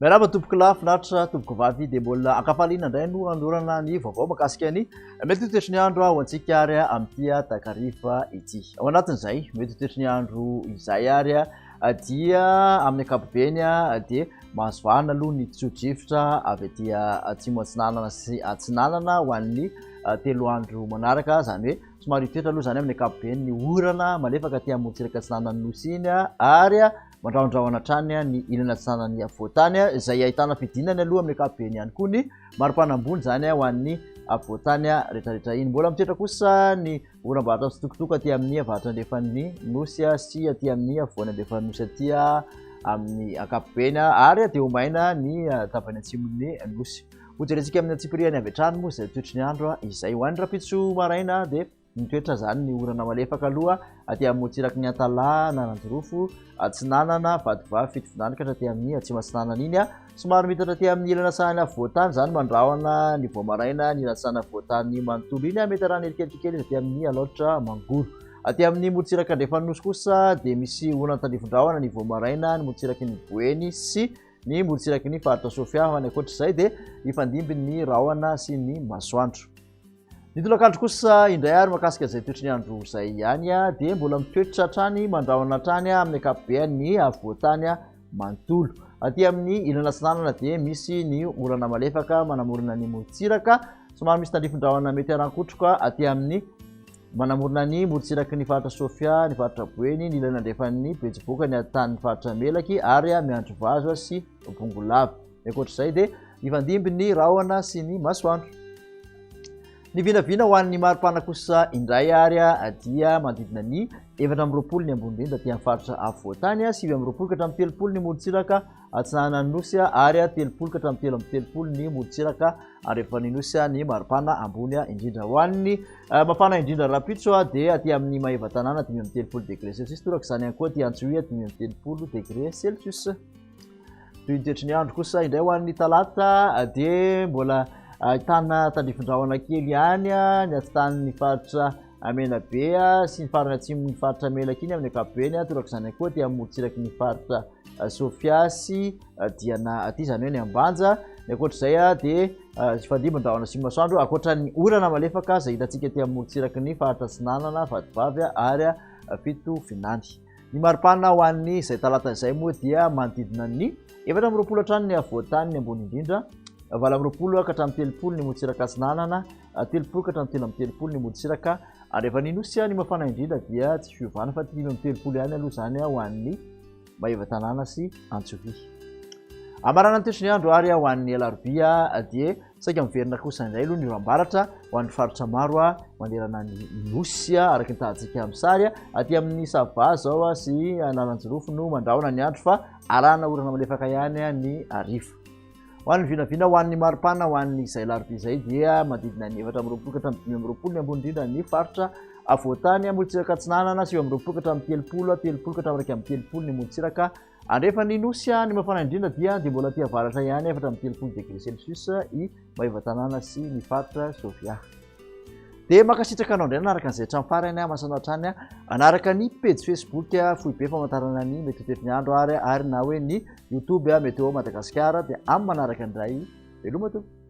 Miarahaba tompoko lahy finaritra tompoko vavy dia mbola ankafaliana indray no anorana ny vaovao makasika ny mety ho toetry ny andro ho antsika ary amin'ity takariva ity. Ao anatin'izay mety ho toetry ny andro izay ary dia amin'ny ankapobeny dia Mahazo vahana aloha ny tsio-drivotra avy aty atsimo atsinanana sy atsinanana ho an'ny telo andro manaraka, izany hoe somary hitoetra aloha izany amin'ny ankapobeny ny orana malefaka aty amorontsiraka atsinanan'ny nosy iny ary mandrahondrahona hatrany ny ilany atsinanan'ny afovoantany, izay ahitana fidinany aloha amin'ny ankapobeny ihany koa ny maripanambony izany ho an'ny afovoantany rehetrarehetra iny. Mbola mitoetra kosa ny Oram-bato atsitokotoko aty amin'ny avaratra andrefan'ny nosy sy aty amin'ny afovoany andrefan'ny nosy aty amin'ny ankapobeny ary dia ho maina ny tapany atsimon'ny nosy. Hojerentsika amin'ny antsipirihany avy hatrany moa izay toetry ny andro izay. Ho an'ny rahampitso maraina dia mitoetra izany ny orana malefaka aloha aty amin'ny motsiraky ny Antalaha, Analanjirofo, Atsinanana, Vatovavy, Fitovinany ka hatraty amin'ny Atsimo Atsinanana iny. Somary mitatra aty amin'ny ilana sahany afovoan-tany izany mandrahona ny vao maraina ny ilatsana afovoan-tany manontolo iny. Mety arahana eriketra kely izy aty amin'ny alaotra mangoro. Aty amin'ny morontsiraka andrefan'ny nosy kosa dia misy orana tandrifin-drahona ny vao maraina ny morontsiraky ny Boeny sy ny morontsiraky ny faritra Sofia. Ho any ankoatra izay dia hifandimby ny rahona sy ny masoandro. Ny tolakandro kosa indray ary makasika izay toetry ny andro izay ihany dia mbola mitoetra hatrany mandrahona hatrany amin'ny ankapobeny ny afovoantany manontolo. Aty amin'ny ilany atsinanana dia misy ny orana malefaka manamorona ny morontsiraka. Somary misy tandrifin-drahona mety harankotroka aty amin'ny manamorona ny morontsiraky ny faritra Sofia, ny faritra Boeny, ny ilany andrefan'ny betsiboka, ny atan'ny faritra Melaky ary miandry vazo sy bongolava. Ny ankoatr'izay dia hifandimby ny rahona sy ny masoandro. Ny vinavina ho an'ny maripana kosa indray ary dia manodidina ny efatra amby roapolo ny ambonindrindra aty amin'ny faritra afovoantany, sivy amby roapolo ka hatramin'ny telopolo ny morontsiraka atsinanan'ny nosy ary telopolo ka hatramin'ny telo amby telopolo ny morontsiraka andrefan'ny nosy ny maripana ambony indrindra. Ho an'ny eh, mafana indrindra rahampitso dia aty amin'ny Maevatanàna dimy amby telopolo degré celsius, torak'izany ihany koa aty Antsohihy dimy amby telopolo degré celsius. Toy ny toetry ny andro kosa indray ho an'ny talata dia mbola ahitana tandrifin-drahona kely ihany ny atsitan'ny faritra Menabe sy ny farany atsimon'ny faritra Melaky iny amin'ny ankapobeny, torak'izany izany koa aty amorontsiraky ny faritra Sofia sy Diana aty izany hoe ny Ambanja. Ny ankoatr'izay dia fandrimbin-drahona sy masoandro ankoatra ny orana malefaka izay hitantsika aty amorontsiraky ny faritra Atsinanana, Vatovavy ary Fitovinany. Ny maripana ho an'ny izay talata izay moa dia manodidina ny efatra amby roapolo hatrany ny afovoan-tany ny ambony indrindra, valo amby roapolo ka hatramin'ny telopolo ny morontsiraka atsinanana, telopolo ka hatramin'ny telo amby telopolo ny morontsiraka, ary avy any Anosy ny mafana indrindra dia tsy fiovana fa dimy amby telopolo ihany aloha izany ho an'ny Maevatanàna sy Antsovia. Hamaranana ny toetry ny andro ary ho an'ny alarobia dia Saika miverina kosa indray aloha ny oram-baratra ho an'ny faritra maro manerana ny Nosy, araka ny tahantsika amin'ny sary. Aty amin'ny Sava izao sy Analanjirofo no mandrahona ny andro fa arahana orana malefaka ihany ny hariva. Ho an'ny vinavina, ho an'ny maripana, ho an'ny izay alarobia izay dia manodidina ny efatra amby roapolo ka hatramin'ny dimy amby roapolo ny ambony indrindra ny faritra avoatany. Morontsiraka Atsinanana sivy amby roapolo ka hatramin'ny telopolo, telopolo ka hatramin'ny iraika amby telopolo ny morontsiraka. Andrefan'ny Nosy any mafana indrindra dia dia mbola aty avaratra ihany, efatra amby telopolo degré celsius, i Maevatanàna sy ny faritra Sofia. Dia mankasitraka anao indray nanaraka an'izay hatramin'ny farany aho, masana hatrany aho. Anaraka ny pejy Facebook Foibe Famantarana ny Mety ho Tetin'Andro ary ary na hoe ny YouTube Météo Madagascar dia amin'ny manaraka indray. Veloma tompoko.